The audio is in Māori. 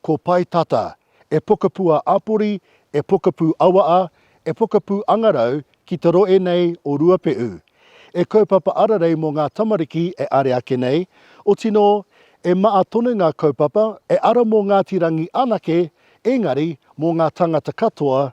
Ko Pae Tata, e pokapū a Apori, e pokapū Awaa, e pokapū Angarau ki te roe nei o Ruapeʻu. E kaupapa ararei mō ngā tamariki e are ake nei, oti nō, e maa tonu ngā kaupapa, e ara mō Ngāti Rangi anake, engari, mō ngā tangata katoa